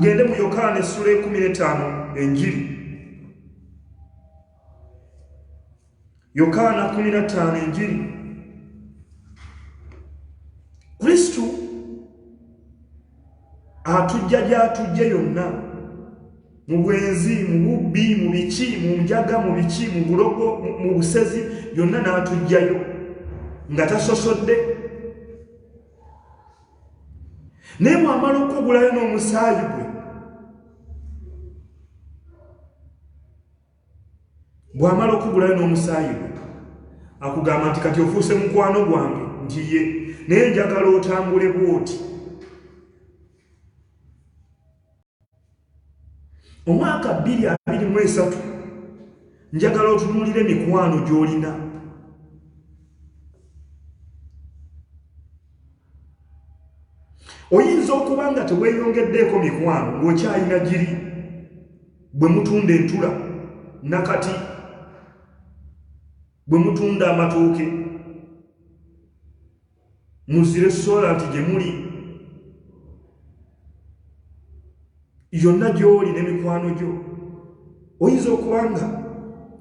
Tugende mu Yokaana essula ekumi n'etaano enjiri. Yokaana kumi na ttaano enjiri. Kristo atujja gy'atujje yonna mu bwenzi, mu bubbi, mu biki, mu njaga, mu biki, mu bulogo, mu busezi, yonna n'atujjayo nga tasosodde. naye bwamala okukugulayo n'omusaayi gwe bwamala okukugulayo n'omusaayi gwe akugamba nti kati ofuuse mukwano gwange nti ye naye njagala otambule bwoti omwaka 223 njagala otunulira emikwano gy'olina oyinza okuba nga teweyongeddeeko mikwano ng'okyalina giri bwe mutunda entula nakati bwe mutunda amatooke muzire sola nti gye muli yonna gy'oli ne mikwano gyo oyinza okuba nga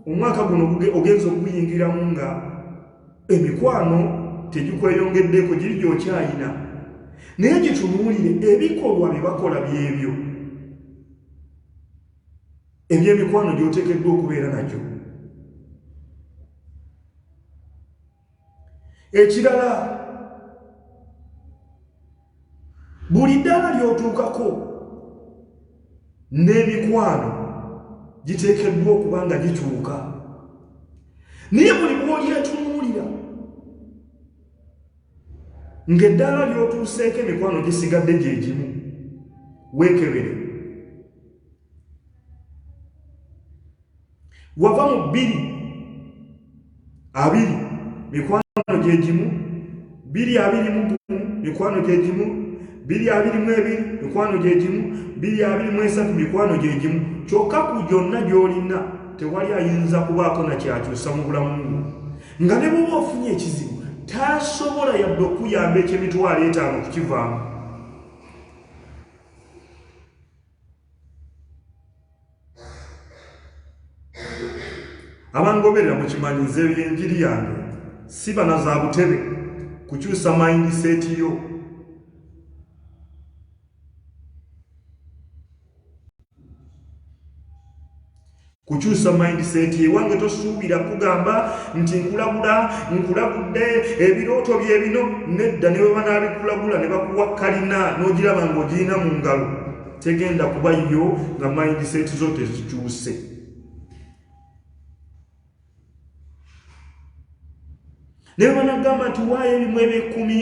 omwaka guno ogenza okuguyingiramu nga emikwano tegikweyongeddeeko giri gy'okyayina naye gitunuulire ebikolwa bye bakola byebyo ebyemikwano gy'oteekeddwa okubeera nagyo ekirala buli ddaala lyotuukako n'emikwano giteekeddwa okuba nga gikyuka naye buli bwolyetunuulira ng'eddaala lyotuuseeko emikwano gisigadde gye gimu weekebere wava mu bbiri abiri mikwano gye gimu bbiri abiri mu gumu mikwano gye gimu bbiri abiri mu ebiri mikwano gye gimu bbiri abiri mu esatu mikwano gye gimu kyokka ku gyonna gy'olina tewali ayinza kubaako na kyakyusa mu bulamu bwo nga ne bwoba ofunye ekizibu tasobola yadde okuyamba ekyemitwalo etaano okukivaamu abangoberera mukimanyi nze enjiri yange si bana za butebe kukyusa mayindi seeti yo kukyusa mindset ewange tosuubira kugamba nti nkulabula nkulabudde ebirooto bye bino nedda ne bwe banaabikulabula ne bakuwa kalina n'ogiraba ng'ogirina mu ngalo tegenda kuba yo nga mindset zo tezikyuse naye banagamba nti waayo ebimu ebyekumi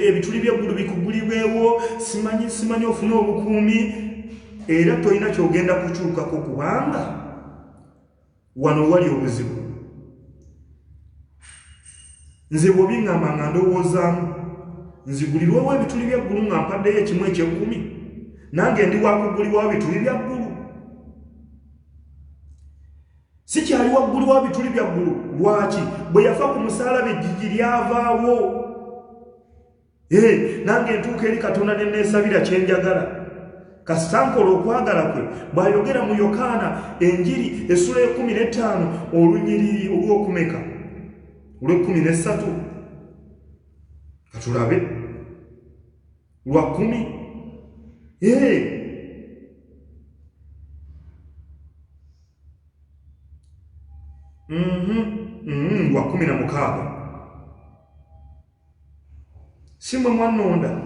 ebituli byeggulu bikugulibwewo simanyi simanyi ofune obukuumi era tolina kyogenda kukyukako kubanga wano wali obuzibu nze bwobiŋamba nga ndowoozaamu nzigulirwewo ebituli byeggulu nga mpaddeyo ekimu ekyekumi nange ndi wakugulibwawo bituli byaggulu sikyali waggulu wa bituli bya ggulu lwaki bwe yafa ku musaalabi ejjiji lyavaawo ee nange entuuka eri katonda ne neesabira kye njagala kasita nkola okwagala kwe bw'ayogera mu yokaana enjiri essula ekumi n'ettaano olunyiriri olw'okumeka olw'ekkumi n'essatu katulabe lwa kkumi ee Mm-hmm. lwa kumi na mukaaga si mwe mwanonda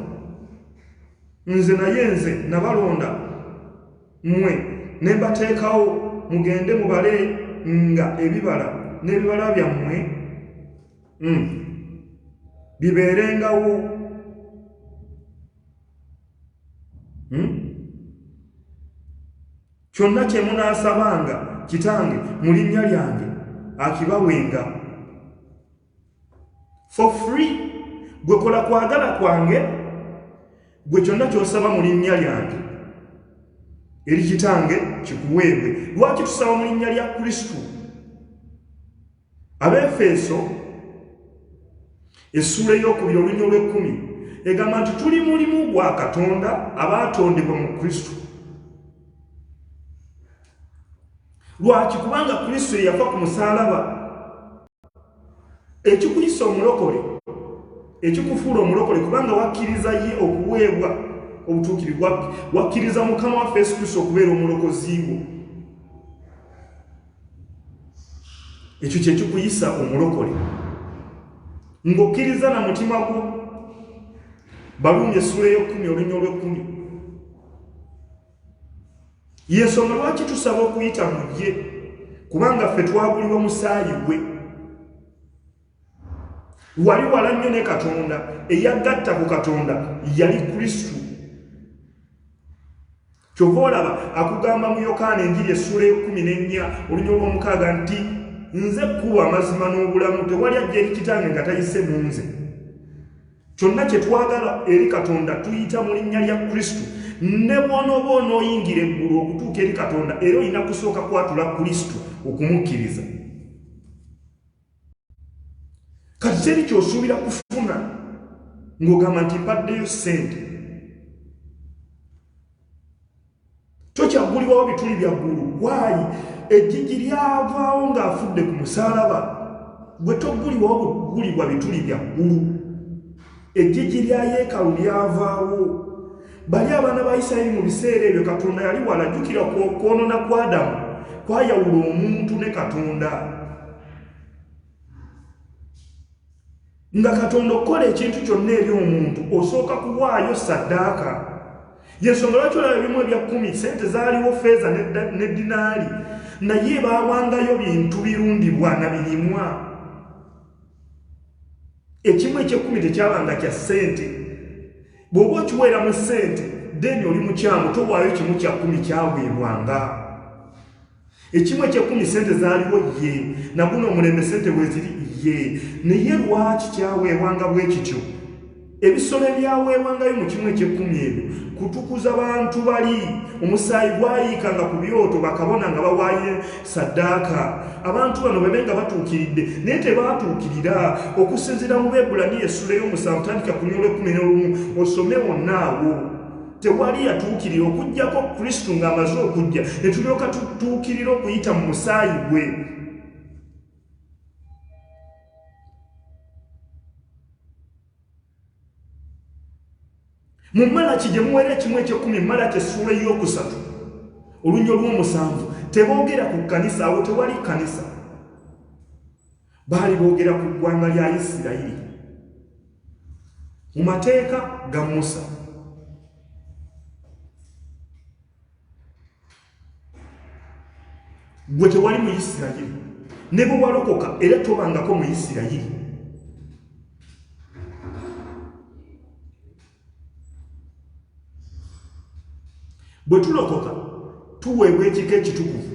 nze naye nze nabalonda mwe ne mbateekawo mugende mubale nga ebibala n'ebibala byammwe mm. bibeerengawo mm? Kyonna kye munaasabanga Kitange mu linnya lyange, akibawenga. For free. Gwe kola kwagala kwange, gwe kyonna ky'osaba mu linnya lyange eri Kitange kikuweebwe. Lwaki tusaba mu linnya lya Kristo? Abefeeso essuula ey'okubiri oluny olw'ekkumi egamba nti tuli mulimu gwa Katonda abaatondebwa mu Kristo. Lwaki? Kubanga Kristo eyafa ku musaalaba ekikuyisa omulokole ekikufuula omulokole kubanga wakkiriza ye okuweebwa obutuukirivu wakkiriza mukama waffe yesu kristo okubeera omulokozi wo ekyo kyekikuyisa omulokole ng'okkiriza na mutima gwo baluumi essuula ey'okkumi olunya olw'ekkumi yensonga lwaki tusaba okuyita mu ye kubanga ffe twagulibwa musaayi gwe wali wala nnyo ne katonda eyagatta ku katonda yali kristu Kyova olaba akugamba mu Yokaana enjiri essuula ey'okkumi n'ennya olunya olw'omukaaga nti, Nze kkubo amazima n'obulamu, tewali ajja eri kitange nga tayise mu nze. Kyonna kye twagala eri Katonda tuyita mu linnya lya Kristo. Ne bw'onooba onooyingira eggulu okutuuka eri Katonda era olina kusooka kwatula Kristo okumukkiriza. kati teri kyosuubira kufuna ng'ogamba nti mbaddeyo ssente tokyaggulibwawo bituli bya ggulu waayi ejjiji lyavaawo ng'afudde ku musaalaba gwe toggulibwawo bugulibwa bituli bya ggulu Eggigi lya yeekalu lyavaawo. Bali abaana ba Isirayiri mu biseera ebyo Katonda yali wala. Jjukira okwonona kwa Adamu kwayawula omuntu ne Katonda. Nga Katonda okukola ekintu kyonna eri omuntu osooka kuwaayo saddaaka. Yensonga lwaki olaba ebimu ebya kkumi sente zaaliwo feeza ne dinaali naye baawangayo bintu birundibwa na birimwa. ekimu ekyekkumi tekyabanga kya ssente bw'oba okiweera mu ssente deni oli mukyamu towaayo kimu kya kkumi kyaweebwanga ekimu ekyekkumi ssente zaaliwo ye naguno omulembe ssente bweziri ye naye lwaki kyaweebwanga bwe kityo Ebisolo ebyaweebwangayo mu kimu eky'ekkumi ebyo kutukuza bantu bali. Omusaayi gwayiikanga ku byoto bakabona nga bawaayo saddaaka. Abantu bano babe nga batuukiridde naye tebaatuukirira. Okusinziira mu Beebulaniya essula ey'omusanvu tandika ku nyola ekkumi n'olumu osome wonna awo. Tewali yatuukirira okuggyako Kristo ng'amaze okujja ne tulyoka tutuukirira okuyita mu musaayi gwe. mu malaki gye muwera ekimu ekyekumi malaki essuula ey'okusatu olunya olw'omusanvu teboogera ku kkanisa awo tewali kkanisa baali boogera ku ggwanga lya isirayiri mu mateeka ga musa gwe tewali mu isirayiri ne bwe walokoka era tobangako mu isirayiri bwe tulokoka tuweebwa ekika ekitukuvu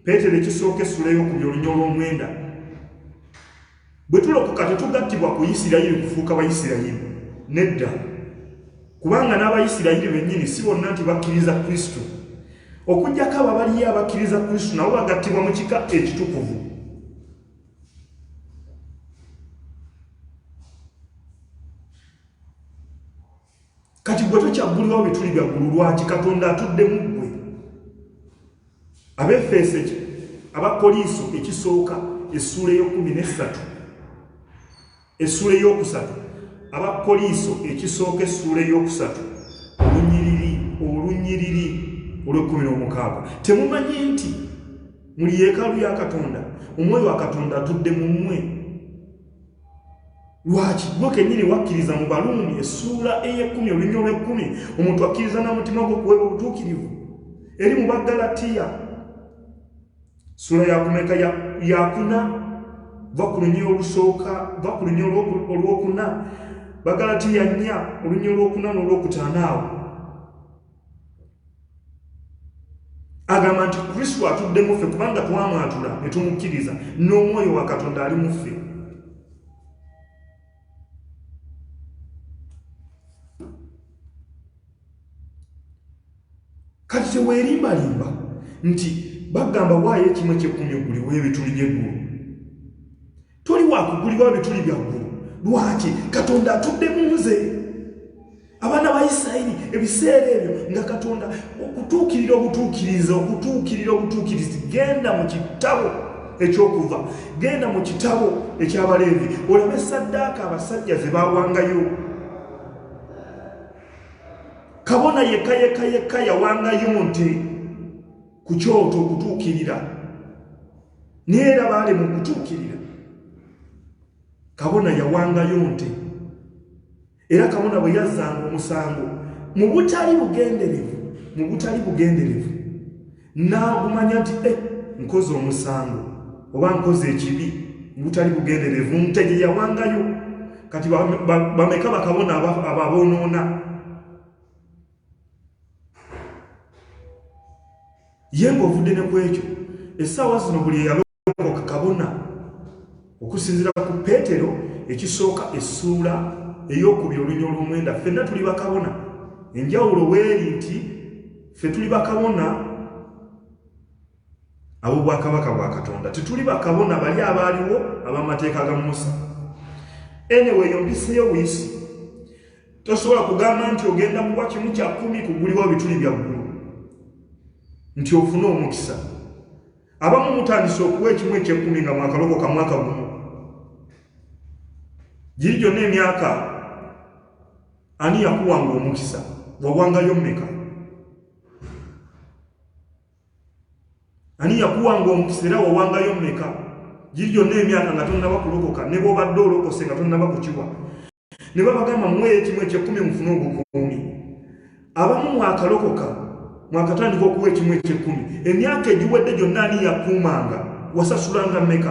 peetero ekisooka essula y'okubya olunya olw'omwenda Bwe tulokoka, tetugattibwa ku Isirayiri kufuuka Baisirayiri. Nedda. Kubanga n'Abaisirayiri bennyini si bonna nti bakkiriza Kristo. Okuggyako abo abaliyo abakkiriza Kristo, nabo bagattibwa mu kika ekitukuvu. kati gwe tokyaggulirwa bye tuli byaggulu lwaki katonda atudde mu ggwe abefeeso abakoliiso ekisooka essuula eyokumi nessatu essuula eyokusatu abakoliiso ekisooka essuula eyokusatu olunyiriri olunyiriri olwekumi n'omukaaga temumanyi nti muli yeekaalu ya katonda omwoyo wa katonda atudde mu mmwe lwaki gwe kenyini wakkiriza mu baluumi essuula ey'ekkumi olunywa olw'ekkumi omuntu akkiriza n'omutima gwe okuweba obutuukirivu eri mu baggalatiya ssuula yakumeka yakuna va ku lunywa olusooka va ku lunywa olw'okuna baggalatiya nnya olunywa olw'okuna n'olw'okutaanaawo agamba nti kristo atudde muffe kubanga twamwatula ne tumukkiriza n'omwoyo wa katonda ali muffe kati teweerimbalimba nti bagamba waayo ekimu ekyekkumi egguli w'ebituli by'eggulu toli wakugulibwa bituli byaggulu lwaki katonda atudde mu nze abaana ba isirayiri ebiseera ebyo nga katonda okutuukirira obutuukiriza okutuukirira obutuukirizi genda mu kitabo ekyokuva genda mu kitabo ekyabaleevi olabe saddaaka abasajja ze bawangayo kabona yekka yekka yekka yawangayo nti ku kyoto okutuukirira naye era baalema okutuukirira kabona yawangayo nte era kabona bwe yazzanga omusango mu butali bugenderevu mu butali bugenderevu n'agumanya nti e nkoze omusango oba nkoze ekibi mu butali bugenderevu nte gye yawangayo kati bameka bakabona ababoonoona ye ng'ovudde ne ku ekyo essaawa zino buli eyalokoka kabona okusinziira ku peetero ekisooka essuula ey'okubiri olunya olw'omwenda ffenna tuli bakabona enjawulo weeri nti ffe tuli bakabona ab'obwakabaka bwa katonda tetuli bakabona bali abaaliwo ab'amateeka ga musa enewe eyo mpiseyo buyisi tosobola kugamba nti ogenda kuwa kimu kya kumi kuguliwa bituli bya ggulu nti ofune omukisa abamu mutandise okuwa ekimu ekyekkumi nga mwakaloko ka mwaka gumu giri gyonna emyaka ani yakuwanga omukisa wawangayo mmeka ani yakuwanga omukisa era wawangayo mmeka giri gyonna emyaka nga tonnaba kulokoka ne bwobadde olokose nga tonnaba kukiwa ne babagamba muwe ekimu ekyekkumi mufune obukuumi abamu mwakalokoka mwakatandika okuwa ekimu ekyekkumi emyaka egiwedde gyonna ani yakuumanga wasasulanga mmeka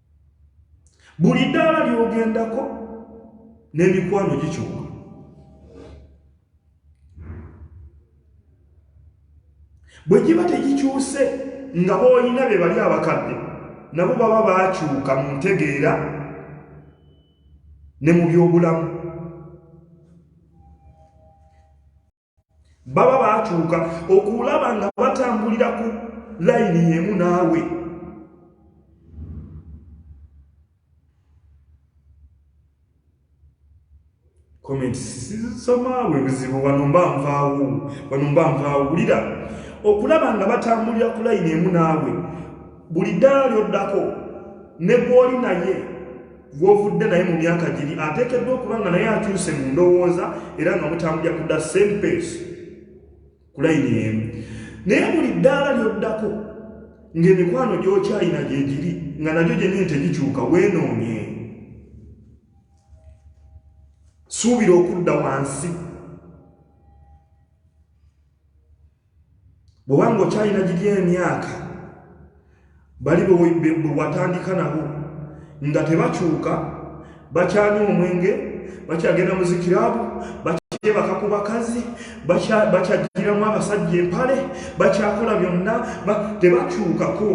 buli ddaala lyogendako n'emikwano gikyuka bwe giba tegikyuse nga boolina be bali abakadde nabo baba baakyuka mu ntegeera ne mu byobulamu baba bakyuka okulaba nga batambulira ku layini yemu naawe komentisisomaawe ebizibu wano mba nvaawo wano mba nvaawo wulira okulaba nga batambulira ku layini emu naawe buli ddaala lyoddako ne gwoli naye gw'ovudde naye mu myaka giri ateekeddwa okuba nga naye akyuse mu ndowooza era nga mutambulya kudda same pace ku layini emu naye buli ddaala ly'oddako ng'emikwano gy'okyalina gye giri nga nagyo gyenyini tegikyuka weenoonye suubira okudda wansi bwobanga okyalina giri emyaka bali bwewatandika nabo nga tebakyuka bakyanywa omwenge bakyagenda muzikirabu bakyebaka ku bakazi bakyagiramu abasajja empale bakyakola byonna tebakyukako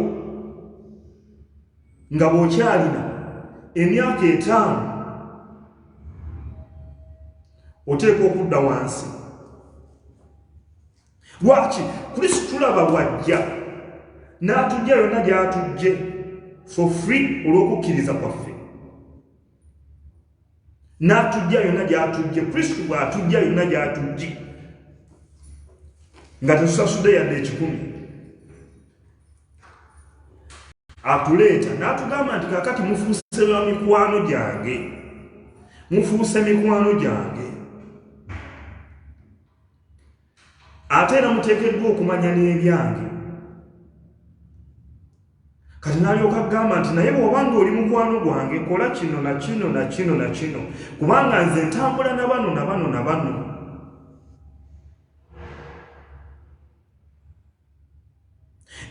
nga bwokyalina emyaka etaano oteeka okudda wansi lwaki kristo tulaba wajja n'atujja yonna gy'atujje for free olw'okukkiriza kwaffe n'atujja yonna gy'atujje kristo bw'atujja yonna gy'atujje nga tetusasudde yadde ekikumi atuleeta n'atugamba nti kakati mufuuse ba mikwano gyange mufuuse mikwano gyange ate era muteekeddwa okumanya n'ebyange kati nalyoka agamba nti naye bw'oba nga oli mukwano gwange kola kino na kino na kino na kino kubanga nze ntambula na bano na bano na bano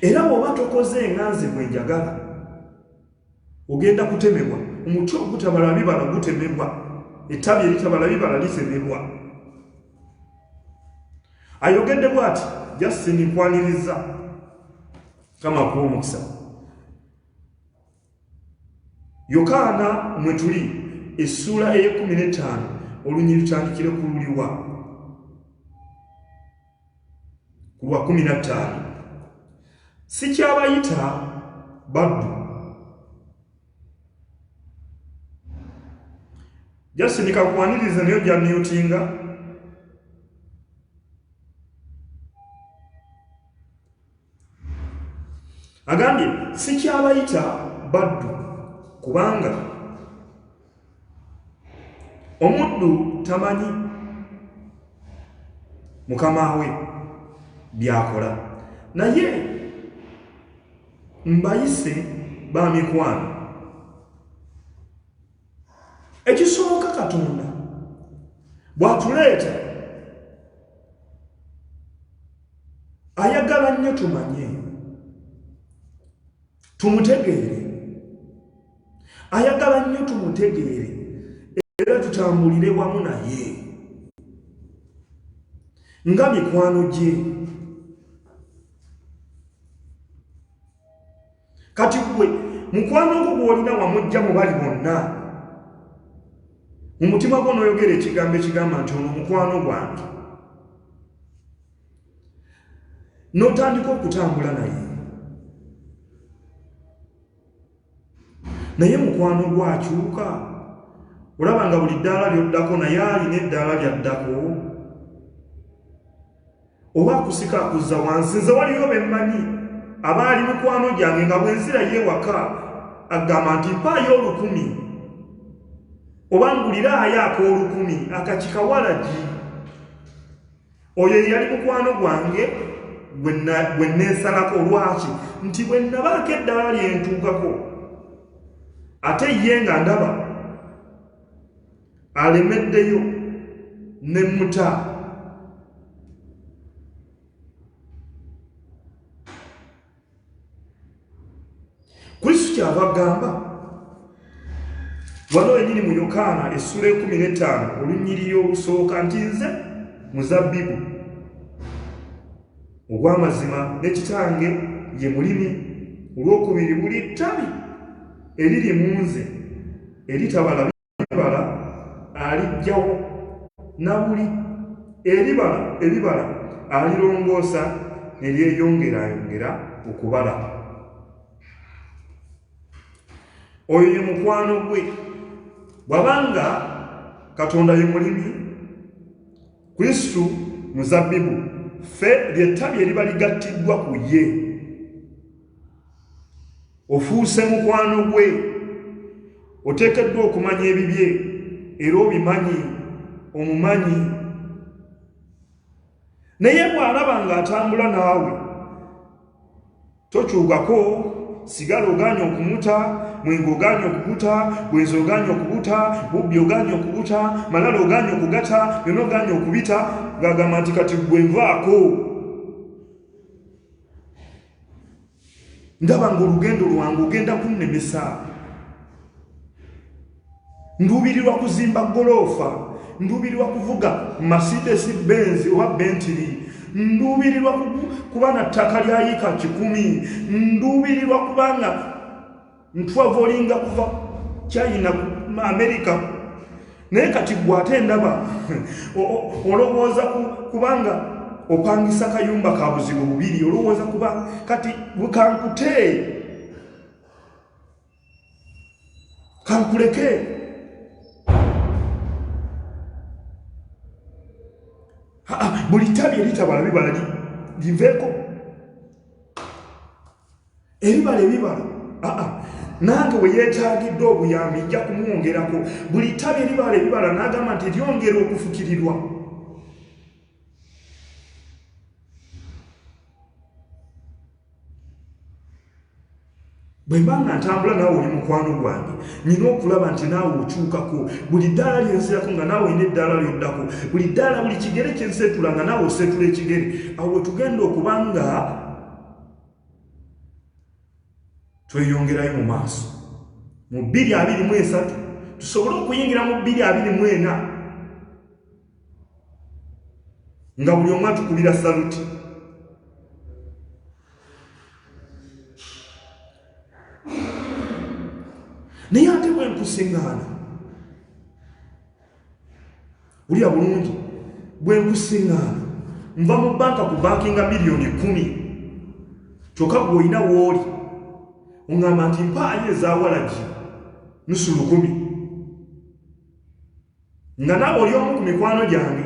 Era bw'oba tokoze nga nze bwe njagala, ogenda kutemebwa. Omuti ogutabala bibala gutemebwa, ettabi eritabala bibala litemebwa. Ayogedde bw'ati, Justin, nkwaniriza. Kama kuwa omukisa. Yokaana mwe tuli essuula ey'ekkumi n'ettaano olunyiri lutandikire ku luliwa ku lwa kkumi na ttaano sikyabayita baddu jasindika kwaniriza nayo gyamyutinga agambye sikyabayita baddu kubanga omuddu tamanyi mukama we byakola naye mbayise ba mikwano ekisooka katonda bwatuleeta ayagala nnyo tumanye tumutegeere ayagala nnyo tumutegeere era tutambulire wamu naye nga mikwano gye kati gwe mukwano ogwo gwolina wamujja mu bali bonna mu mutima gwo noyogera ekigambo ekigamba nti ono mukwano gwange notandika okutambula naye naye mukwano gwakyuka olaba nga buli ddaala lyoddako naye alina eddaala lyaddako oba akusika akuzza wansi nze waliyo bemmanyi abaali mikwano gyange nga bwenzira ye waka agamba nti mpaayo olukumi oba nguliraayo ak'olukumi akakikawalagi oyo eyali mukwano gwange gwe neesalako lwaki nti bwe nabaako eddala lyentuukako ate ye nga ndaba alemeddeyo ne muta kristo kyava agamba wano wenyini mu yokaana essula ekumi n'etaano olunyiriri olusooka nti nze muzabbibu ogw'amazima ne kitange ye mulimi olw'okubiri buli ttabi eriri mu nze eritabala ebibala alijjawo na buli ebibala ebibala alirongoosa ne lyeyongerayongera okubala oyo ye mukwano gwe bwabanga katonda ye mulimi kristu muzabbibu ffe lyettabi eriba ligattiddwa ku ye ofuuse mukwano gwe oteekeddwa okumanya ebibye era obimanyi omumanyi naye bw'alaba ng'atambula naawe tokyukako sigala oganye okumuta mwenge oganye okubuta bwenzi oganye okubuta bubbi oganye okubuta malala oganye okugata byona oganye okubita ng'agamba nti kati gwenvaako ndaba ng'olugendo lwange ogenda kunnemesa nduubirirwa kuzimba goloofa nduubirirwa kuvuga masidesi benzi oba bentiri nduubirirwa kuba na ttaka lya yika kikumi nduubirirwa kubanga ntwavolinga kuva china america naye kati gwe ate ndaba olowooza kubanga opangisa kayumba ka buzibu bubiri olowooza kuba kati kankute kankuleke buli tabi eritabala bibala liveeko ebibala ebibala aa nange bwe yeetagidde obuyambi nja kumwongerako buli ttabi eribala ebibala n'agamba nti lyongera okufukirirwa bwe mba nga ntambula naawe oli mukwano gwange nyina okulaba nti naawe okyukako buli ddaala lyenzirako nga naawe olina eddaala lyoddako buli ddaala buli kigere kyenseetula nga naawe oseetula ekigere awo wetugenda okuba nga tweyongerayo mu maaso mu bbiri abiri mu esatu tusobole okuyingira mu bbiri abiri mu ena nga buli omu atukubira saluti naye ate bwenkusiŋŋaana wulira bulungi bwenkusiŋŋaana nva mu banka ku bankinga miliyoni kumi kyokka gwe olina wooli oŋŋamba nti mpaayo ezawalagi nusu lukumi nga naawe oli omu ku mikwano gyange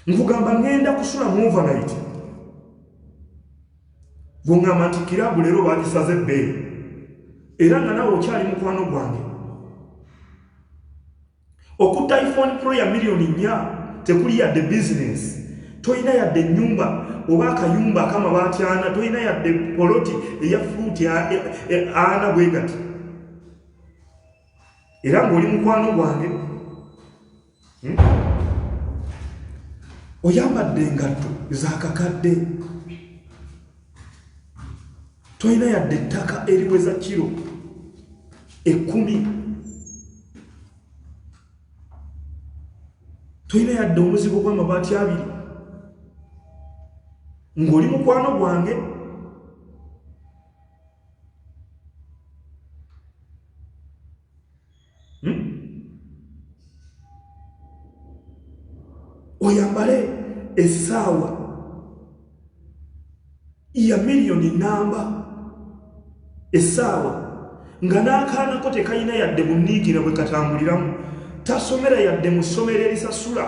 nkugamba ŋŋenda kusula mu overnight bwongamba nti kiraabu leero bagisaze ebbeeyi era nga nawe okyali mukwano gwange okutta iphone pro ya miliyoni nnya tekuli yadde bizinensi tolina yadde ennyumba oba akayumba akamabaati ana tolina yadde poloti eya furuuti e, e, ana bwe gati era ng'oli mukwano gwange hmm? oyambadde engatto zakakadde tolina yadde ettaka eriweza kiro ekkumi tolina yadde omuzigo gw'amabaati abiri ng'oli mukwano gwange hmm? oyambale esaawa ya miliyoni namba esaawa nga n'akaanako tekalina yadde muniigira bwe katambuliramu tasomera yadde mu ssomero erisasula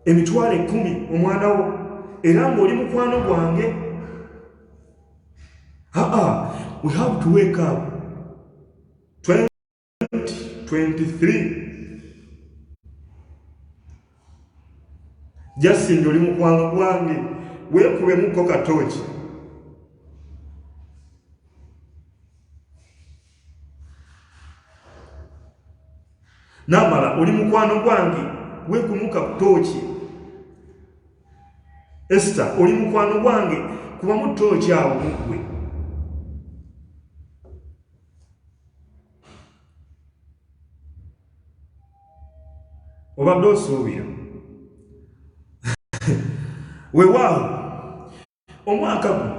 emitwalo ekkumi omwana wo era ng'oli mukwano gwange aa we have to wake up 2023 Justin oli mukwano gwange weekubemuko katooki namala oli mukwano gwange weekumuka kutooki esita oli mukwano gwange kubamu tooki awo mugwe obadde osuubira wewaawo omwaka guno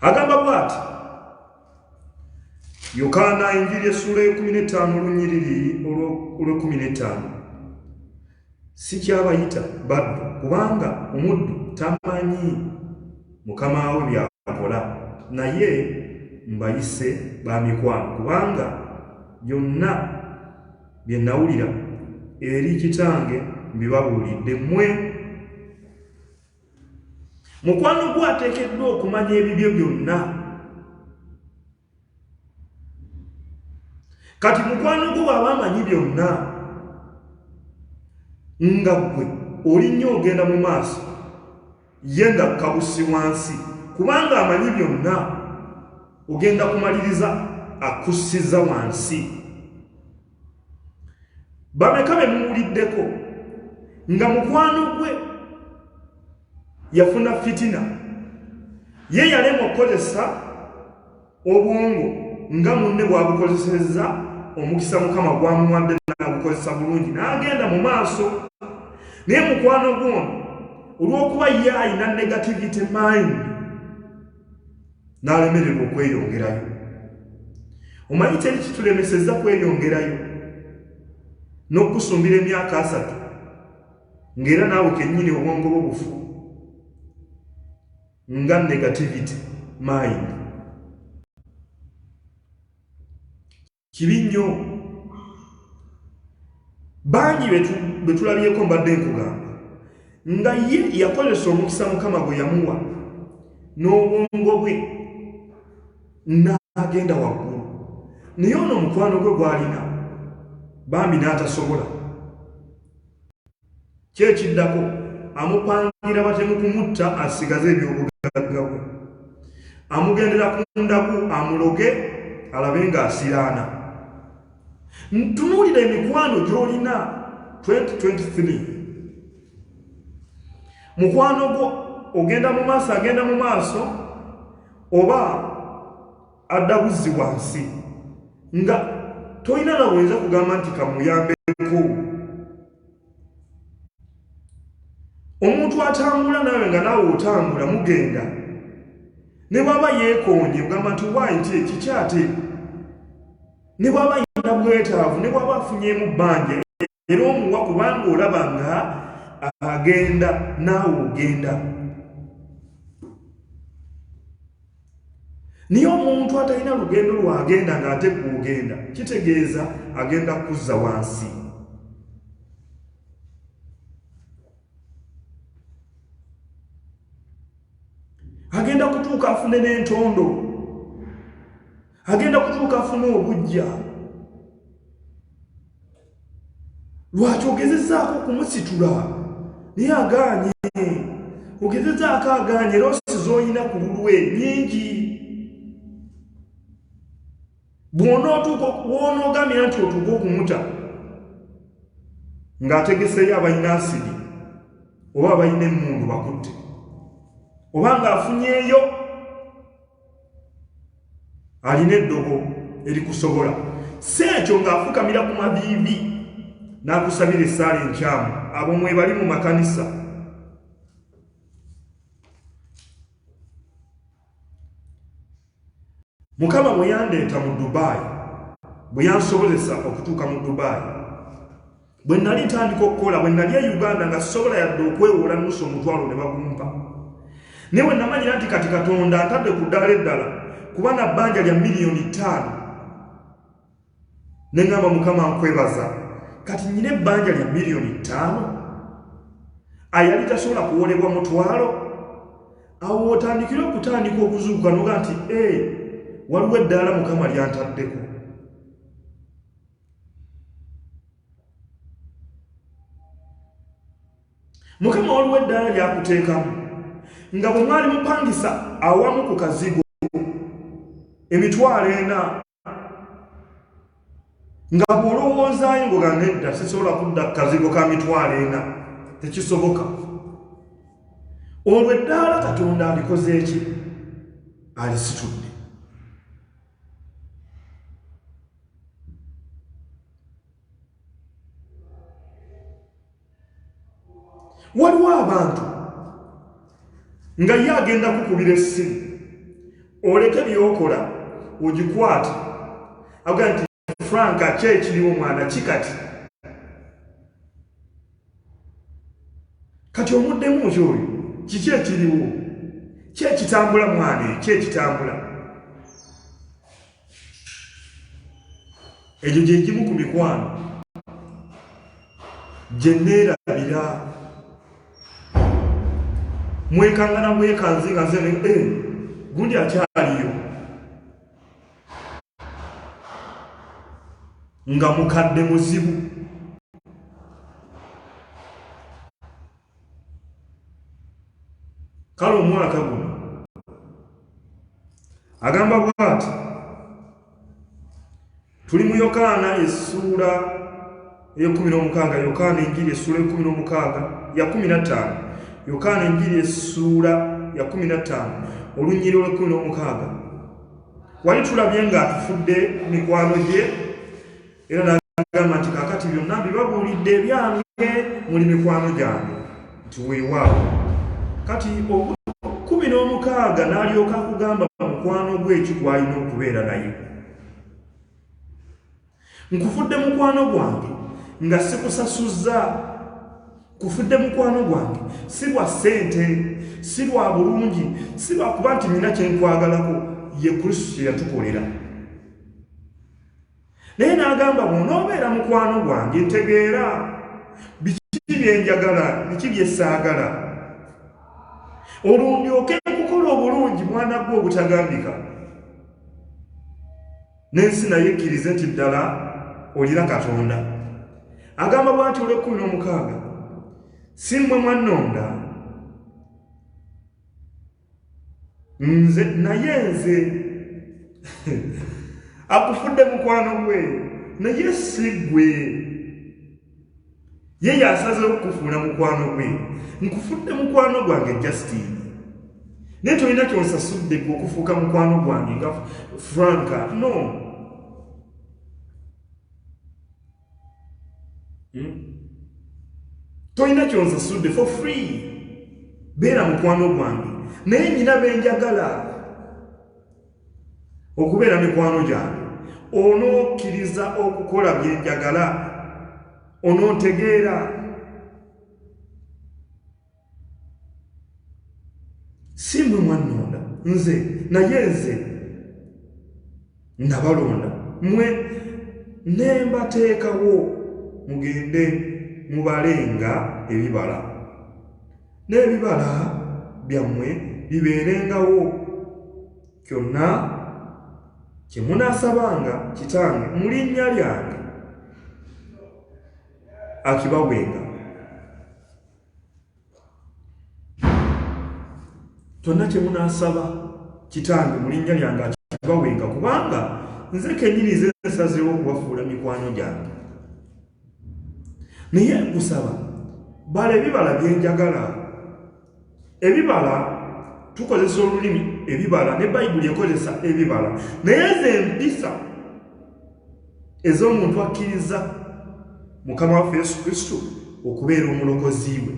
agamba bwati yokaana enjiri essuula ekumi n'etaano olunyiriri olwekumi n'etaano Sikyabayita baddu, kubanga omuddu tamanyi mukama we by'akola, naye mbayise ba mikwano, kubanga byonna bye nawulira eri kitange mbibabuulidde mmwe. Mukwano gwo ateekeddwa okumanya ebibyo byonna. kati mukwano gwo bwaba amanyi byonna nga gwe oli nnyo ogenda mu maaso ye nga kabusi wansi kubanga amanyi byonna ogenda kumaliriza akussiza wansi bameka be muwuliddeko nga mukwano gwe yafuna fitina ye yalema okukozesa obwongo nga munne bwabukozesezza omukisa mukama gwamuwadde nagukozesa bulungi n'agenda mu maaso naye mukwano gwono olw'okuba ye alina negativity mind n'alemererwa okweyongerayo omanyi kyeri kitulemeseza kweyongerayo n'okusumbira emyaka asatu ng'era naawe kennyini obwongo bwo bufu nga negativity mind kibi nnyo bangi bwe tulabyeko mbadde nkugamba nga ye yakozesa omukisa mukama gwe yamuwa n'obwongo bwe n'agenda waggulu naye ono omukwano gwe gwalina bambi n'atasobola Ki ekiddako? Amupangira batemu kumutta asigaze ebyobugagga bwe. Amugendera ku ndaku amuloge alabe ng'asiraana. Ntunuulira emikwano gy'olina 2023. Mukwano gwo ogenda mu maaso agenda mu maaso oba adda buzzi wansi nga tolina na bwenza kugamba nti kamuyambeko omuntu atambula nawe nga naawe otambula mugenda ne bwaba yeekonye ogamba nti wayi ti ekikyate ne bwaba yina bwetaavu ne bwaba afunyeemu bbanja era omuwa kubanga olaba nga agenda naawe ogenda naye omuntu atalina lugendo lwagenda ng'ate kuogenda kitegeeza agenda kuzza wansi agenda kutuuka afune n'entondo agenda kutuuka afuna obujja lwaki ogezezaako okumusitula naye agaanye ogezezaako agaanye era osiza olina ku lulwe nyingi bwonootuuka wonoogamira nti otuuka okumuta ng'ategeseeyo abalina asidi oba abalina emmundu bakutte oba ng'afunyeeyo alina eddogo erikusobola si ekyo ng'afukamira ku maviivi n'akusabira essaala enkyamu abo mwebali mu makanisa mukama bwe yandeeta mu dubaayi bwe yansobozesa okutuuka mu dubaayi bwe nali ntandika okukola bwe nali e uganda nga sisobola yadde okwewola nusu omutwalo ne bagumpa naye bwe namanyira nti kati katonda ntadde ku ddala eddala kuba na bbanja lya miliyoni ttaano ne ŋŋamba mukama nkwebaza kati nnyina ebbanja lya miliyoni ttaano ayali tasobola kuwolebwa mutwalo awo otandikire okutandika okuzuuka noga nti e waliwo eddaala mukama lyantaddeko mukama waliwo eddaala lyakuteekamu nga bwe mwali mupangisa awamu ku kazigo emitwalo ena nga bw'olowoozaayo ngoga nedda sisobola kudda ku kazigo ka mitwalo ena tekisoboka olwo eddaala katonda alikoze eki alisitudde waliwo abantu nga ye agenda kukubira essimu oleke byokola ogikwata aga nti franka ki ekiriwo mwana ki kati kati omuddemu nti oyo kiki ekiriwo kyekitambula mwana ekyekitambula egyo gye gimu ku mikwano gye neerabira mwekangana mwekanze nga nze eh, gundi akyaliyo nga mukadde muzibu kale omwaka guno agamba bwati tuli mu yokaana essuula eyekumi n'omukaaga yokaana enjiri essuula ekumi n'omukaaga ya kumi na ttaano yokaana enjiri essuula ya kumi na ttaano olunyiri olwekumi n'omukaaga wali tulabye ng'atufudde mikwano gye Era n'agamba nti kaakati byonna mbibabuulidde ebyange muli mikwano gyange nti weewaawo kati kumi n'omukaaga n'alyoka akugamba mukwano gwe eki gw'alina okubeera naye nkufudde mukwano gwange nga sikusasuzza kufudde mukwano gwange si lwa ssente si lwa bulungi si lwakuba nti nina kyenkwagalako ye kristo kye yatukolera naye n'agamba bw'onoobeera mukwano gwange ntegeera biki bye njagala biki bye ssaagala olwo ndyoke kukola obulungi mwana gwe obutagambika n'ensi naye ekkirize nti ddala olina katonda agamba bw'ati olw'ekkumi n'omukaaga si mmwe mwannonda nze naye nze akufudde mukwano gwe naye si gwe ye yasazewo okukufuula mukwano gwe nkufudde mukwano gwange justin naye tolina kyonsasudde gwe okufuuka mukwano gwange nga franka no hmm? tolina kyonsasudde for free beera mukwano gwange naye nyina benjagala okubeera mikwano gyange onokkiriza okukola byenjagala onontegeera si mwe mwannonda nze naye nze nabalonda mwe nembateekawo mugende mubale nga ebibala n'ebibala byammwe bibeerengawo kyonna kye munaasabanga kitange mu linnya lyange akibawenga kyonna kye munaasaba kitange mu linnya lyange akibawenga kubanga nze kennyini nze nsazeewo okubafuula mikwano gyange naye nkusaba bala ebibala bye njagala ebibala tukozesa olulimi ebibala ne bayibuli ekozesa ebibala naye nze mpisa ez'omuntu akkiriza mukama waffe yesu kristo okubeera omulokozi we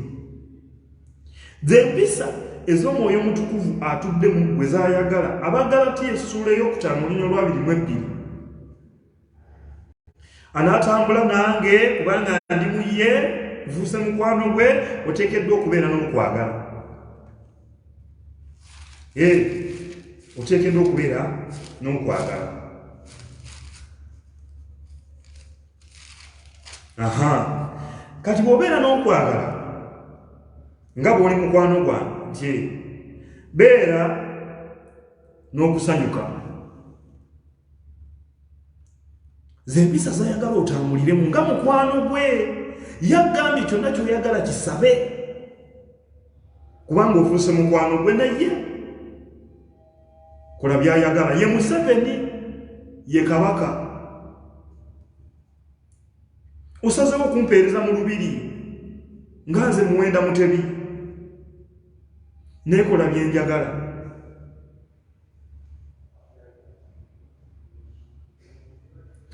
zempisa ez'omwoyo omutukuvu atudde mu gwe zayagala abagala ti essuula ey'okutaano olunya olwabiri mu ebbiri anaatambula nange kubanga ndi mu ye nfuuse mukwano gwe oteekeddwa okubeera n'okwagala ee eh, oteekeddwa okubeera n'okwagala aha kati bw'obeera n'okwagala nga bw'oli mukwano gwange nti beera n'okusanyuka zempisa zayagala otambuliremu nga mukwano gwe yagambye kyonna kyoyagala kisabe kubanga ofuuse mukwano gwe naye kola byayagala ye museveni ye kabaka osazewo okumpeereza mu lubiri nga nze muwenda mutebi nekola byenjagala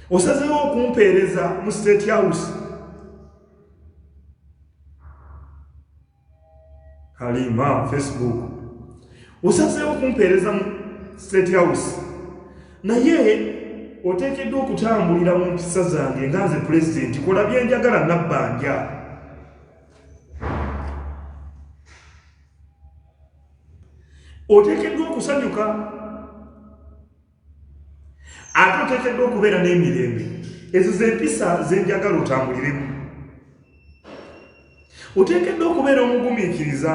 osazewo okumpeereza mu state house halima facebook osazewo okumpeereza mu state house naye oteekeddwa okutambulira mu mpisa zange nga nze pulezidenti kola byenjagala nabbanja oteekeddwa okusanyuka ate oteekeddwa okubeera n'emirembe ezo zempisa zenjagala otambuliremu oteekeddwa okubeera omugumiikiriza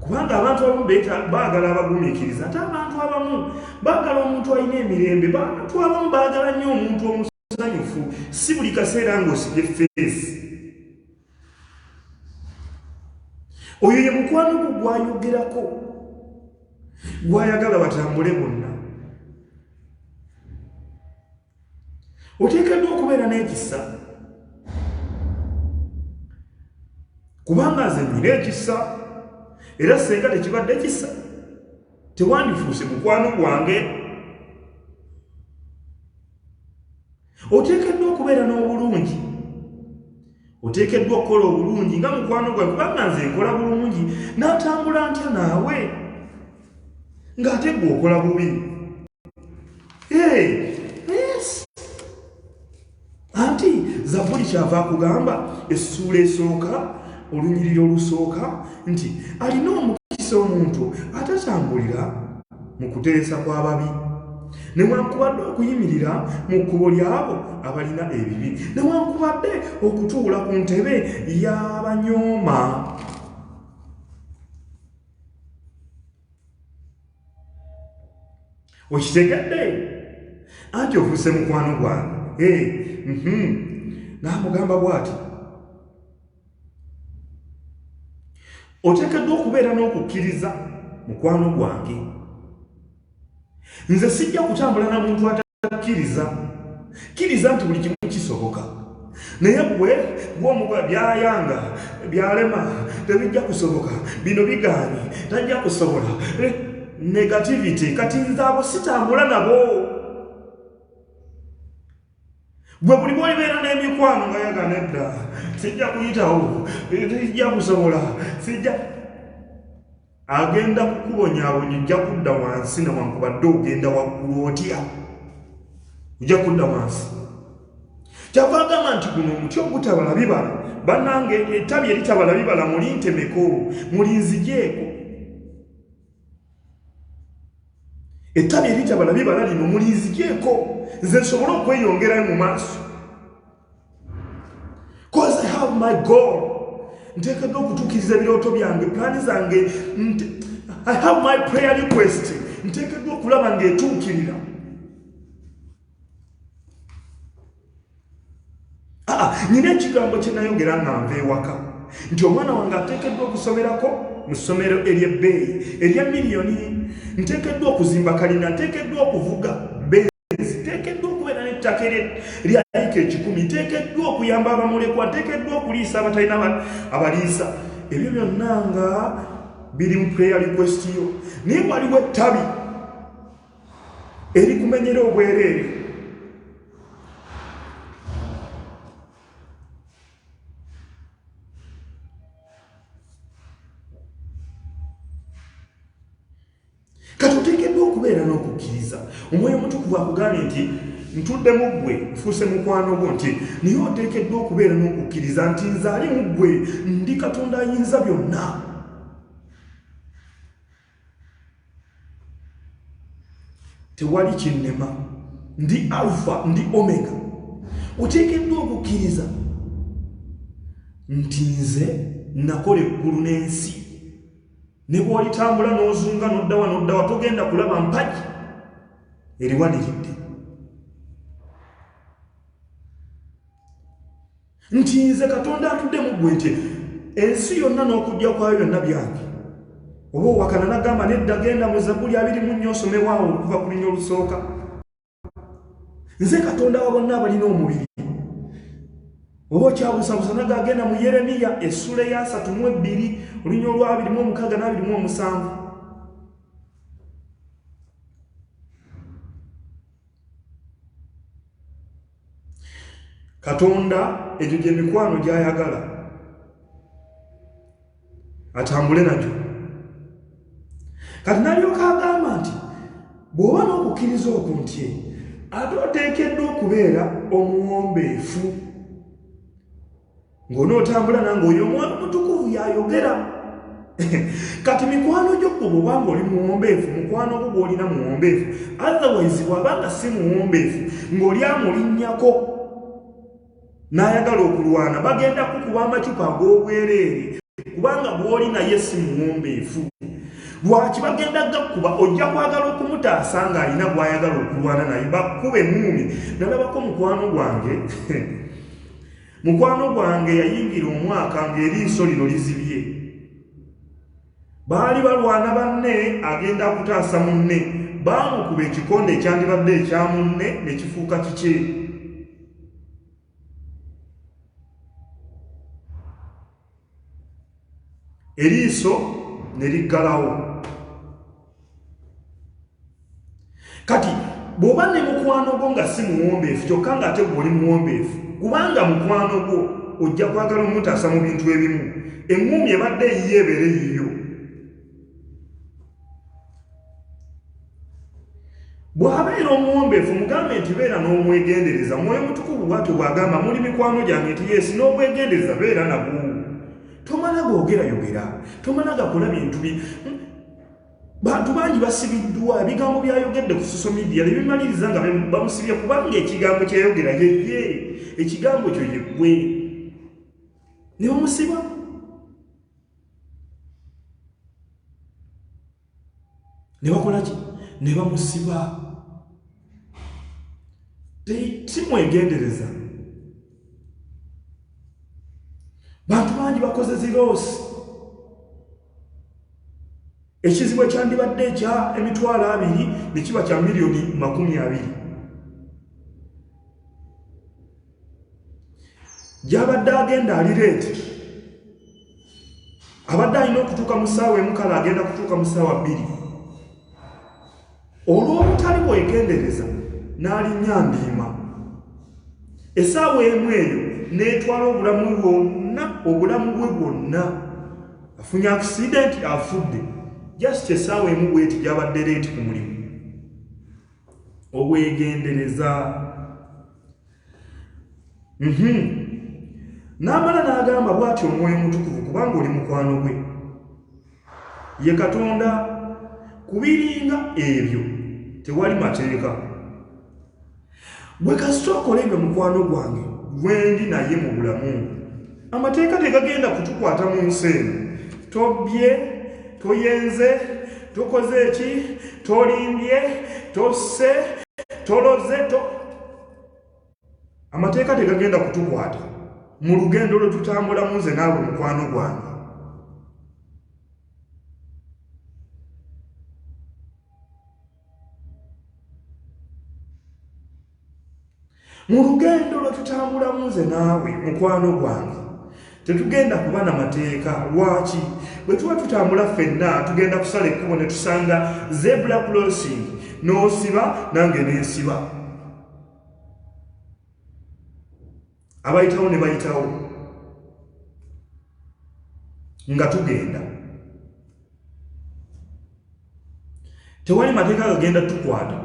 kubanga abantu abamu baagala abagumiikiriza ate abantu abamu baagala omuntu alina emirembe abantu abamu baagala nnyo omuntu omu musanyufu si buli kaseera ng'osibye feesi oyo ye mukwano gwo gwayogerako gwayagala batambule bonna oteekeddwa okubeera n'ekisa kubanga nze nyina ekisa era senga tekibadde kisa tewandifuuse mukwano gwange oteekeddwa okubeera n'obulungi oteekeddwa okukola obulungi nga mukwano gwae kubanga nze nkola bulungi n'atambula ntya naawe ng'ate gwe okola bubi anti zabuli kyava akugamba essuula esooka olunyiriri olusooka nti alina omukisa omuntu atatambulira mu kuteresa kw'ababi newankubadde okuyimirira mu kkubo ly'abo abalina ebibi newankubadde okutuula ku ntebe y'abanyooma okitegedde anti ofuuse mukwano gwange eh, mhm. n'amugamba bw'ati oteekeddwa okubeera n'okukkiriza mukwano gwange nze sijja kutambula na muntu atakkiriza kkiriza nti buli kimu kisoboka naye gwe gwomuba byayanga byalema tebijja kusoboka bino bigaanyi tajja kusobola eh, negativity kati nze abo sitambula nabo gwe buli bwolibeera n'emikwano nga yagana edda sijja kuyitawo sijja kusobola sijja agenda kukubonyabonya ojja kudda wansi newankubadde ogenda waggulu otya ojja kudda wansi kyava agamba nti guno omuti ogutabala bibala banange ettabi eritabala bibala mulintemeko mulinzijeeko ettabi eritaba na bibala lino mulinzigyeko nze nsobole okweyongerayo mu maaso cause i have my goal nteekeddwa okutuukiriza ebirooto byange pulaani zange i have my prayer request nteekeddwa okulaba ng'etuukirira nina ekigambo kyenayogera nga nva ewaka nti omwana wange ateekeddwa okusomerako mu ssomero ery'ebbeeyi erya miliyoni nteekeddwa okuzimba kalina nteekeddwa okuvuga benzi nteekeddwa okubeera n'ettaka ere lyayika ekikumi nteekeddwa okuyamba abamulekwa nteekeddwa okuliisa abatalina abaliisa ebyo byonna nga biri mu prayer request yo naye waliwo ettabi erikumenyera obwereere kati oteekeddwa okubeera n'okukkiriza omwoyo omutukuvu akugambye nti ntudde mu ggwe nfuuse mukwano gwo nti naye oteekeddwa okubeera n'okukkiriza nti nzaali mu ggwe ndi katonda ayinza byonna tewali kinnema ndi alfa ndi omega oteekeddwa okukkiriza nti nze nakola eggulu n'ensi ne bw'olitambula n'ozunga n'oddawa n'oddawa togenda kulaba mpagi eriwaniridde nti nze katonda atudde mu ggwe nti ensi yonna n'okujja kwayo byonna byange oba owakana nagamba nedda genda mu zabuli abiri mu nnyo osomewaawo okuva ku linya olusooka nze katonda wa bonna abalina omubiri oba okyabusabusa naga agenda mu yeremiya essula eyasatu mu ebbiri olunya olwabiri mu omukaaga n'abiri mu omusanvu katonda egyo gye mikwano gy'ayagala atambule nagyo kati nalyoka agamba nti bw'oba n'okukkiriza oku nti ate oteekeddwa okubeera omuwombeefu ng'onootambula nange oyo omwoyo mutukuvu yayogera kati mikwano gyo gwe bwobanga oli muwombeefu mukwano gwo gwolina muwombeefu otherwise bwabanga si muwombeefu ng'oli amulinnyako n'ayagala okulwana bagenda kukuba amacupa ag'obwereere kubanga gwoli naye si muwombeefu lwaki bagenda gakuba ojja kwagala okumutaasa ng'alina gw'ayagala okulwana naye bakuba emuumi nalabako mukwano gwange Mukwano gwange yayingira omwaka ng'eriiso lino lizibye. Baali balwana banne agenda kutaasa munne, baamukuba ekikonde ekyandibadde ekya munne ne kifuuka kikye. eriiso ne liggalawo kati bw'oba ne mukwano gwo nga si muwombeefu kyokka ng'ate gwoli muwombeefu kubanga mukwano gwo ojja kwagala omutaasa mu bintu ebimu eŋŋuumi ebadde eyiyo ebeere yiyo bw'abeera omuwombeefu mugambe nti beera n'omwegendereza mwoyo mutukuvu bwatyo bw'agamba muli mikwano gyange nti yeesi n'obwegendereza beera nabwo tomala googerayogera tomala gakola bintu bi bantu bangi basibiddwa ebigambo byayogedde ku social media ne bimaliriza nga bamusibye kubanga ekigambo kyeyogera yeye ekigambo kyo yeggwe ne bamusiba ne bakola ki ne bamusiba simwegendereza bantu bangi bakoze ziroosi ekizibu ekyandibadde ekya emitwalo abiri ne kiba kya miliyoni makumi abiri gyabadde agenda ali leeti abadde alina okutuuka mu ssaawa emukala agenda kutuuka mu ssaawa bbiri olw'obutali bwegendereza n'alinnya mbiima essaawa emu eyo n'etwala obulamu bwonna obulamu bwe bwonna afunye akisidenti afudde just essaawa emu bweti gyabadde leeti ku mulimu obwegendereza mhm. n'amala n'agamba bwati omwoyo mutukuvu kubanga oli mukwano gwe ye katonda kubiringa ebyo tewali mateeka bwe kasita okola ebyo mukwano gwange gwendi naye mu bulamu amateeka tegagenda kutukwata mu nsi eno tobbye toyenze tokoze eki tolimbye tosse toloze to amateeka tegagenda kutukwata mu lugendo lwe tutambulamu nze naawe mukwano gwange mu lugendo lwe tutambulamu nze naawe mukwano gwange tetugenda kuba na mateeka lwaki bwe tuba tutambula ffenna tugenda kusala ekkubo ne tusanga zebula closing n'osiba nange nensiba abayitawo ne bayitawo nga tugenda tewali mateeka gagenda tukwata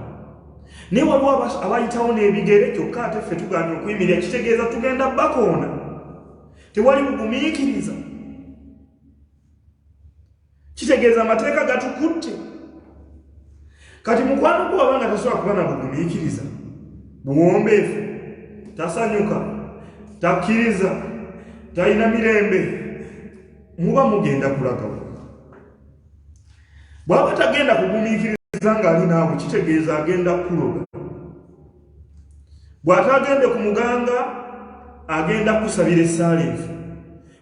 naye waliwo abayitawo n'ebigere kyokka ate ffe tuganye okuyimirira kitegeeza tugenda bakoona tewali bugumiikiriza kitegeeza amateeka gatukutte kati mukwano gwe wabanga tasobola kuba na bugumiikiriza buwombeefu tasanyuka takkiriza talina mirembe muba mugenda kulagawa bwaba tagenda kugumiikiriza ng'ali naawe kitegeeza agenda kukuloga bw'ataagende ku muganga agenda kukusabira esaala enfu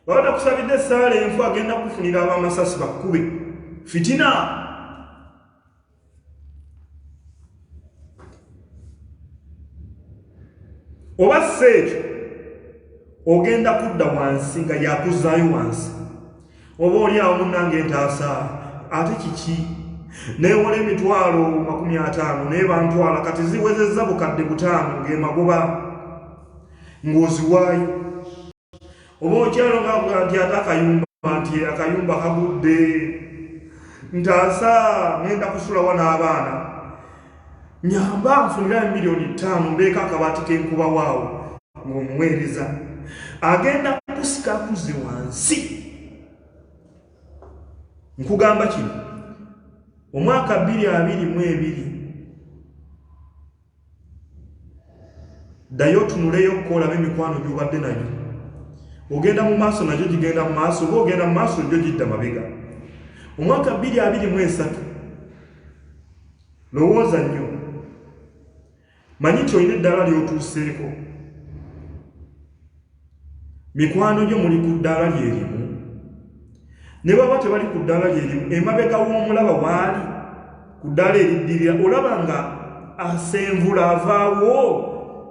baba takusabidde essaala enfu agenda kufunira abamasasi bakkube fitina oba si ekyo ogenda kudda wansi nga yakuzaayo wansi oba oli awo munnange entaasa ate kiki newola emitwalo makumi ataano naye bantwala kati ziwezezza bukadde butaano ng'emagoba ng'oziwaayo oba okyalo ngavuga nti ate akayumba nti akayumba kagudde ntaasa ngenda kusulawa n'abaana nyamba nfunira emiliyoni ttaano mbeeko akabaati kenkuba waawo ng'omuweereza agenda kusika kuze wansi nkugamba kino omwaka bbiri abiri mu ebiri ddayo otunuleyo okko olabe emikwano gyobadde nayo ogenda mu maaso nagyo gigenda mu maaso oba ogenda mu maaso gyo gidda mabega omwaka bbiri abiri mu esatu lowooza nnyo manyi nti olina eddaala lyotuuseeko mikwano gyo muli ku ddaala lye limu ne baba tebali ku ddaala lye limu emabega w'omulaba waali ku ddaala eriddirira olaba nga asenvula avaawo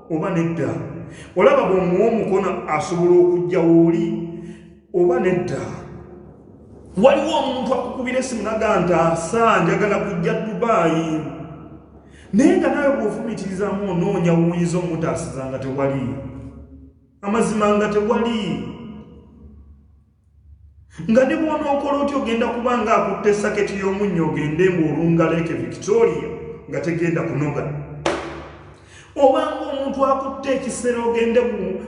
oba nedda olaba bw'omuwa omukono asobola okujja wooli oba nedda waliwo omuntu akukubira esimu naga nti asa njagala kujja dubaayi naye nga nawe bwofumitirizamu onoonya wuyinza omutaasiza nga tewali amazima nga tewali nga ne bwonookola otya ogenda kuba nga akutte saketi y'omunnyo ogende ngaolungaleeke victoria nga tegenda kunoga obanga omuntu akutte ekisera ogende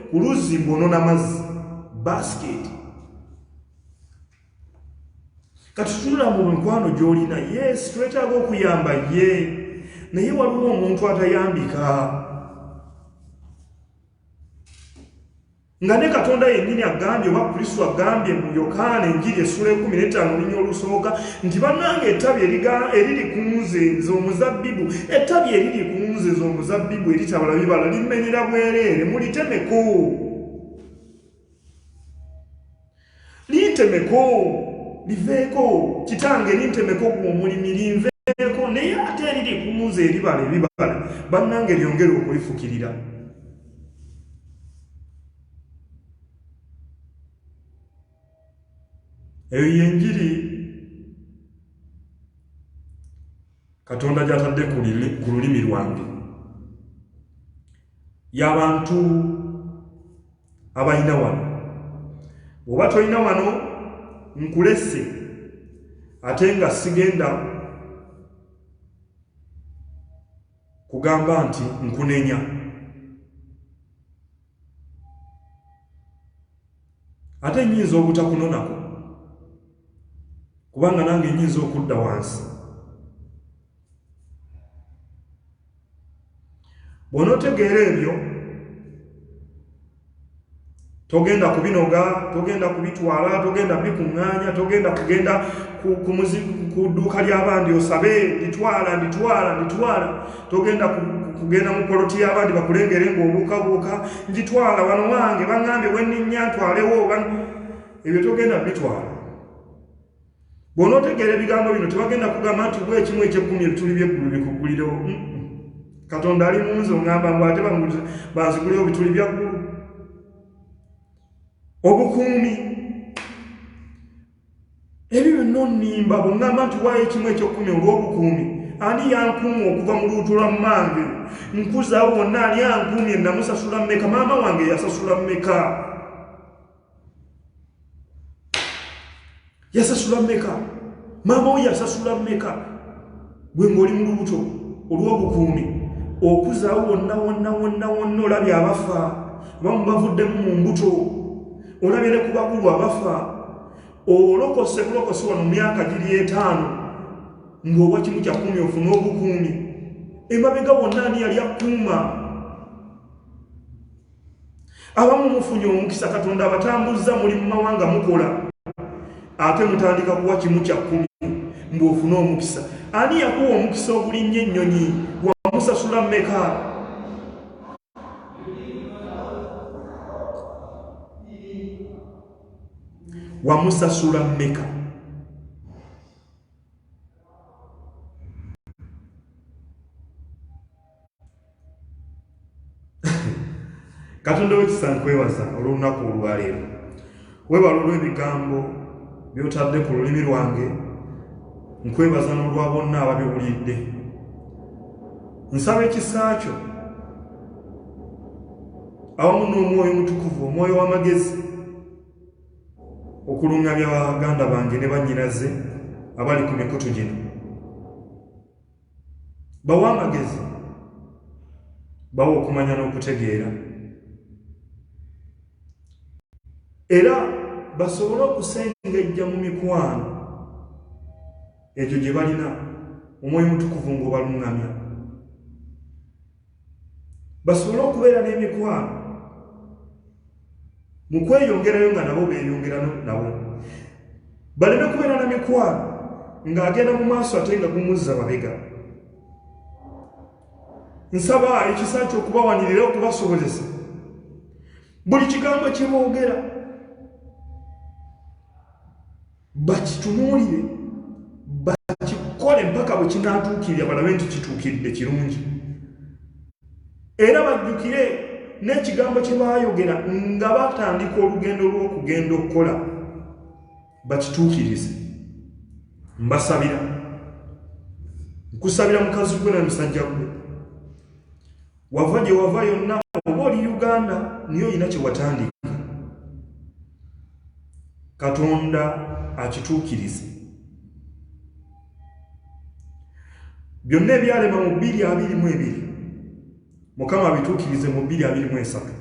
ku luzzi ng'onona mazzi basiketi kati tunula mu mikwano gy'olina yes twetaaga okuyamba ye naye waliwo omuntu atayambika Nga ne Katonda yennyini agambye oba Kristo agambye mu Yokaana enjiri essula ekumi n'ettaano olunya olusooka nti bannanga ettabi eriri ku nze z'omuzabbibu ettabi eriri ku nze z'omuzabbibu eritabala bibala limenyera bwereere mulitemeko. Lintemeko, liveeko, kitange lintemeko gwe omulimi linveeko naye ate eriri kunze eribala ebibala bannange lyongere okulifukirira. eyo yenjiri katonda gyatadde ku lulimi lwange yabantu abalina wano bwoba tolina wano nkulese ate nga sigenda kugamba nti nkunenya ate nyinza obutakunonako kubanga nange nyinza okudda wansi bw'onotegeera ebyo togenda kubinoga togenda kubitwala togenda bikuŋŋaanya togenda kugenda ku dduuka ly'abandi osabe nditwala nditwala nditwala togenda kugenda mu poloti y'abandi bakulengere ng'obuukabuuka ngitwala wano wange baŋŋambye wenninnya ntwalewo ebyo togenda bitwala bw'onootegeera ebigambo bino tebagenda kugamba nti bwa ekimu ekyekkumi ebituli by'eggulu bikuggulirewo katonda ali munzi oŋamba ngu ate banzigulewo ebituli bya ggulu obukuumi ebyo byonna onimba bweŋamba nti waayo ekimu ekyekkumi olw'obukuumi ani yankuuma okuva mu luutu lwa mmange nkuzaawo wonna ani ankuumye namusasula mmeka maama wange yasasula mmeka yasasula meka maama wo yasasula meka gwe ng'oli mu lubuto olw'obukuumi okuzaawo wonna wonna wonna wonna olabye abafa bamu bavuddemu mu mbuto olabye ne ku bakulu abafa olokose bulokose wano mu myaka giri etaano ng'owa kimu kya kumi ofuna obukuumi emabega wonna ani yali akuuma abamu mufunye omukisa katonda abatambuzza muli mu mawanga mukola ate mutandika kuwa kimu kya kkumi mbu ofune omukisa ani yakuwa omukisa ogulinnyo ennyonyi wamusasula mmeka wamusasula mmeka katonda wekisa nkwebaza olw'olunaku olwaleero webala olw'ebigambo byotadde ku lulimi lwange nkwebaza n'olwa bonna ababiwulidde nsaba ekisa kyo awamu n'omwoyo omutukuvu omwoyo w'amagezi okulungamya baganda bange ne bannyinaze abali ku mikutu gino bawa amagezi bawa okumanya n'okutegeera era basobole okusengejja mu mikwano egyo gye balina omwoyo mutukuvu ng'obaluŋŋamya basobole okubeera n'emikwano mu kweyongerayo nga nabo beeyongera nabo baleme kubeera na mikwano ng'agenda mu maaso ate nga gumuzza mabega nsaba ekisa kyokubawanirira okubasobozesa buli kigambo kyeboogera bakitunuulire bakikole mpaka bwe kinaatuukirira balabe nti kituukiridde kirungi era bajjukire n'ekigambo kye baayogera nga batandika olugendo lw'okugenda okukola bakituukirize mbasabira nkusabira mukazi gwe na musajja gwe wava gye wava yonna oba oli uganda niye olina kye watandika katonda akituukirize byonna ebyalema mu bbiri abiri mu ebiri mukama abituukirize mu bbiri abiri mu esatu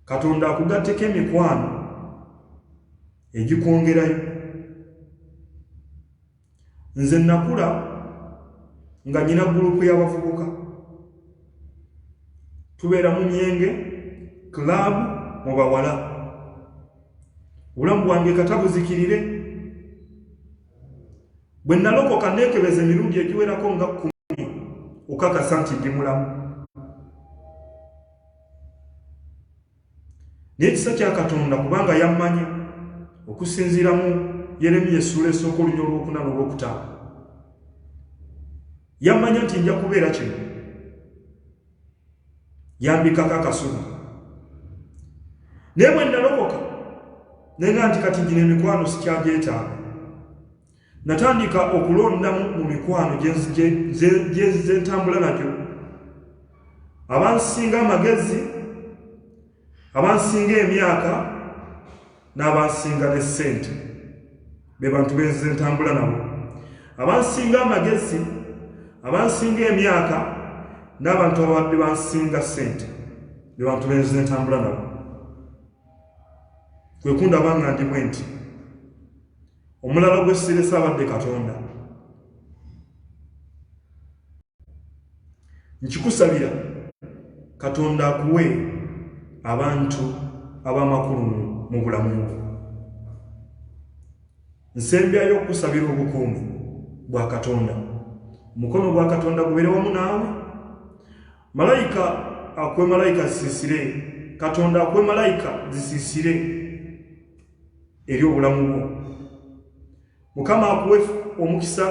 katonda akugatteko emikwano egikwongerayo Nze nnakula nga nnina gulupu y'abavubuka. Tubeera mu myenge, club, mu bawala. Obulamu bwange kata buzikirire. Bwe nnalokoka nneekebeza emirundi egiwerako nga kkumi okukakasa nti ndi mulamu. n'ekisa kya katonda kubanga yammanya okusinziira mu yeremiya essuula esooka olunya olwokuna n'olwokutaano yammanya nti nja kubeera kino yambikako akasubi naye bwe nalokoka nenga nti kati gino emikwano sikyagyetaaga Natandika okulondamu mu mikwano gye ntambula nagyo abansinga amagezi abansinga emyaka n'abansinga ne ssente be bantu benze ntambula nabo abansinga amagezi abansinga emyaka n'abantu ababadde bansinga ssente be bantu benze ntambula nabo kwekundaba nga ndi bwe nti omulala gwe sirese abadde katonda nkikusabira katonda akuwe abantu ab'amakulu mu bulamu bwo nsembyayo okusabira obukuumi bwa katonda omukono gwa katonda gubeere wamu naawe malayika akuwe malayika zisiisire katonda akuwe malayika zisiisire eri obulamu bwo mukama akuwe omukisa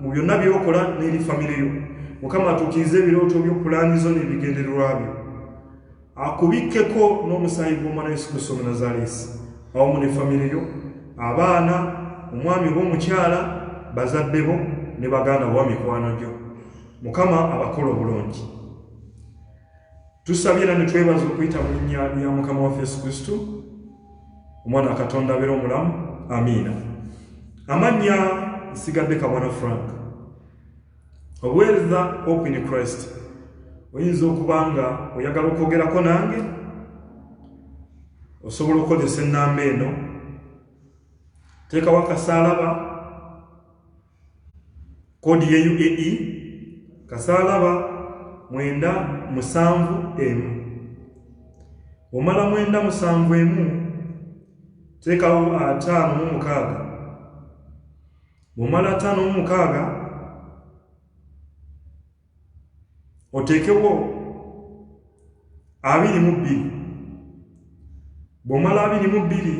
mu byonna byokola n'eri famire yo mukama atuukirize ebirooto byo pulaani zo n'ebigendererwa byo akubikkeko n'omusaayi gw'omwana yesu kristo omunazaleesi awamu ne famire yo abaana omwami oba omukyala bazadde bo ne baganda bowa mikwano gyo mukama abakola obulungi Tusabye era ne twebaza okuyita mu linnya lya Mukama waffe Yesu Kristo, omwana wa Katonda abeera omulamu. Amiina. Amannya nsigadde Kabwana Frank. Obuweereza Hope in Christ. Oyinza okuba nga oyagala okwogerako nange, osobola okukozesa ennamba eno. Teekawo akasaalaba, kodi ye uae kasaalaba mwenda musanvu emu omala mwenda musanvu emu teekawo ataano mu mukaaga bwomala ataano mu mukaaga oteekewo abiri mu bbiri bw'omala abiri mu bbiri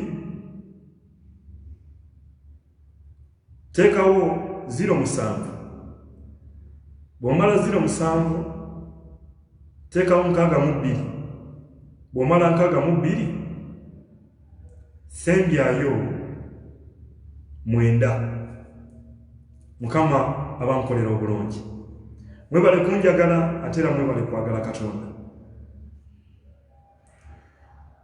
teekawo ziro musanvu bw'omala ziro musanvu teekawo nkaaga mu bbiri bw'omala nkaaga mu bbiri sembyayo mwenda mukama abankolera obulungi mwebale kunjagala ate era mwebale kwagala katonda